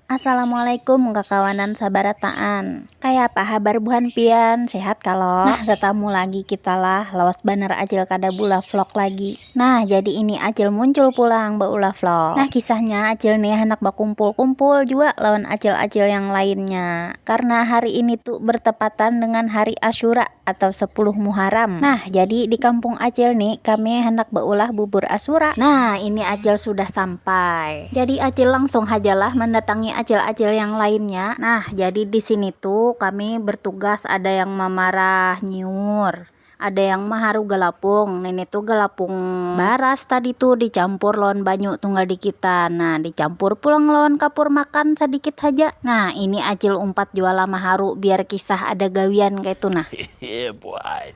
Assalamualaikum kakawanan sabarataan kayapa habar buhan pian sehat kalo nah tatamu lagi kita lah lawas banar acil kada beulah vlog lagi nah jadi ini acil muncul pulang beulah vlog nah kisahnya acil nih handak bakumpul-kumpul jua lawan acil-acil yang lainnya karna hari ini tu bertepatan dengan hari asyura atau sepuluh muharam nah jadi di kampung acil nih kami handak beulah bubur asyura nah ini acil sudah sampai. Jadi acil langsung hajalah mandatangi acil-acil yang lainnya, nah jadi disini tu kami bertugas ada yang mamarah nyiur, ada yang maharu galapung, ini tu galapung baras tadi tu dicampur lawan banyu tunggal dikitan nah dicampur pulang lawan kapur makan sadikit haja, nah ini acil umpat jua lah maharu biar kisah ada gawian kaitu nah,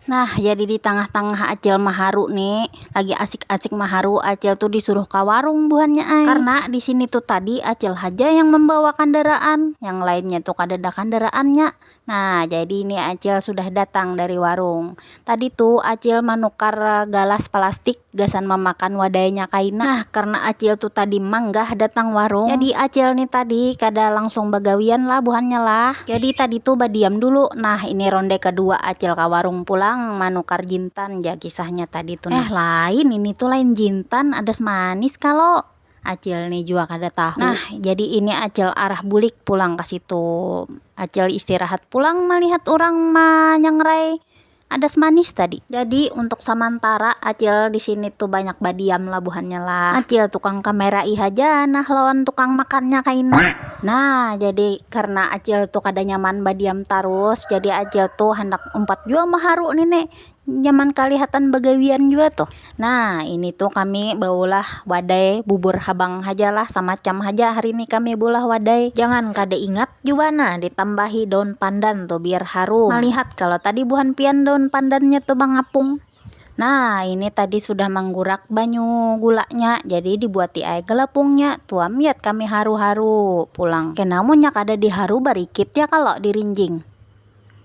nah jadi ditangah-tangah acil maharu ni. lagi asik-asik maharu acil tu disuruh ka warung buhannya ai, karna disini tu tadi acil haja yang mambawa kandaraan yang lainnya tu kadada kandaraannya, nah jadi ini acil sudah datang dari warung tadi tu acil manukar galas palastik gasan mamakan wadainya kaina, nah karna acil tu tadi manggah datang warung jadi acil ni tadi kada langsung bagawian lah buhannya lah, jadi tadi tu badiam dulu nah ini ronde kedua acil ka warung pulang manukar jintan ja. kisahnya tadi tuh. Eh lain ini tuh lain jintan adas manis kalau Acil nih juga kada tahu. Nah, jadi ini Acil arah bulik pulang ke situ. Acil istirahat pulang melihat orang manyangrai adas manis tadi. Jadi untuk samantara Acil di sini tuh banyak badiam lah buhannya lah. Acil tukang kamerai haja nah lawan tukang makannya kaina. Nah, jadi karena Acil tuh kada nyaman badiam tarus, jadi Acil tuh handak umpat jua maharu nih ne. nyaman kalihatan bagawian jua tuh nah ini tuh kami baulah wadai bubur habang haja lah samacam haja hari ni kami beulah wadai jangan kada ingat jua nah ditambahi daun pandan tuh biar harum malihat kalo tadi buhan pian daun pandannya tuh bangapung nah ini tadi sudah manggurak banyu gulanya jadi dibuati ai galapungnya tuam yat kami haru haru pulang kena munnya kada diharu barikit ya kalo dirinjing.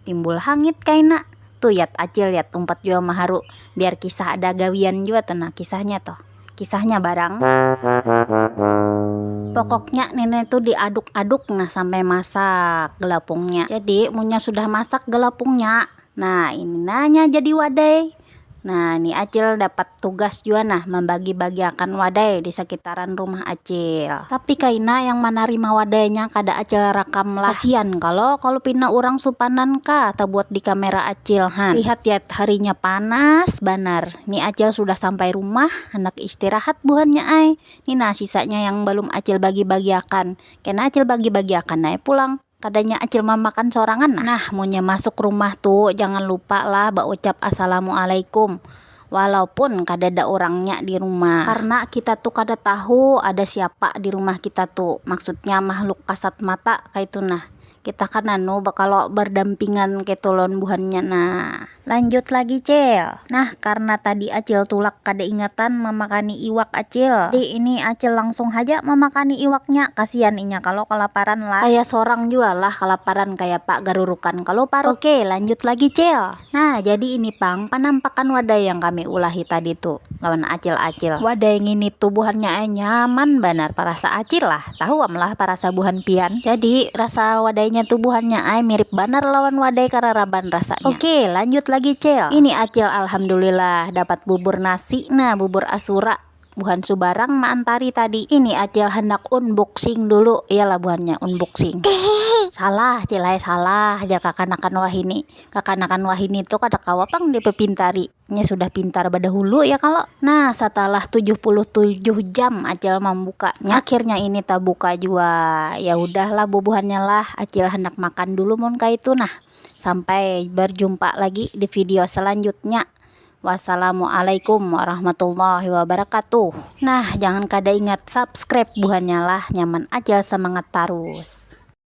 Timbul hangit kaina. Tu yat acil yat umpat jua maharu biar kisah ada gawian jua tu nah kisahnya tuh. Kisahnya barang. Pokoknya nenek tu di aduk aduk nah sampai masak galapungnya jadi munnya sudah masak galapungnya nah ini nanya jadi wadai Nah, ni Acil dapat tugas jua nah mambagi-bagiakan wadai di sakitaran rumah Acil. Tapi kaina yang manarima wadainya kada Acil rakam lah. Kasian kalo kalu pina urang supanan kah tabuat di kamera Acil han. Lihat yat, harinya panas banar. Ni Acil sudah sampai rumah, handak istirahat buhannya ai. Ni nah sisanya yang balum Acil bagi-bagiakan. Kena Acil bagi-bagiakan ai pulang. Kadanya acil mamakan sorangan nah. Nah, munnya masuk rumah tu jangan lupa lah baucap assalamualaikum walaupun kadada urangnya di rumah. Karna kita tu kada tahu ada siapa di rumah kita tu, maksudnya makhluk kasat mata kaitu nah. Kita kan anu bakalo bardampingan kaitu lawan buhannya nah. Lanjut lagi cil. Nah karna tadi acil tulak kada ingatan mamakani iwak acil, jadi ini acil langsung haja mamakani iwaknya, kasian inya kalo kalaparan lah. Kaya sorang jua lah kalaparan kayapa garurukan kalo parut. Oke lanjut lagi cil. Nah jadi ini pang panampakan wadai yang kami ulahi tadi tu lawan acil acil. Wadai ngini tu buhannya ai nyaman banar parasa acil lah. Tahu am lah parasa buhan pian. Jadi rasa wadainya tu buhannya ai mirip banar lawan wadai kararaban rasanya. Oke lanjut lagi cil. Ini acil alhamdulillah dapat bubur nasi nah bubur asura buhan subarang maantari tadi. Ini acil handak unboxing dulu iyalah buhannya unboxing. Salah cil ai salah jar kakanakan wahini. Kakanakan wahini tu kada kawa pang dipepintari. nya sudah pintar badahulu ya kalo nah satalah tujuh puluh tujuh jam acil mambuka nya akhirnya ini tabuka jua ya hudah lah bubuhannya lah acil handak makan dulu mun kaitu nah sampai barjumpa lagi di video selanjutnya wassalamualaikum warahmatullahi wabarakatuh nah jangan kada ingat subscribe buhannya lah nyaman acil semangat tarus.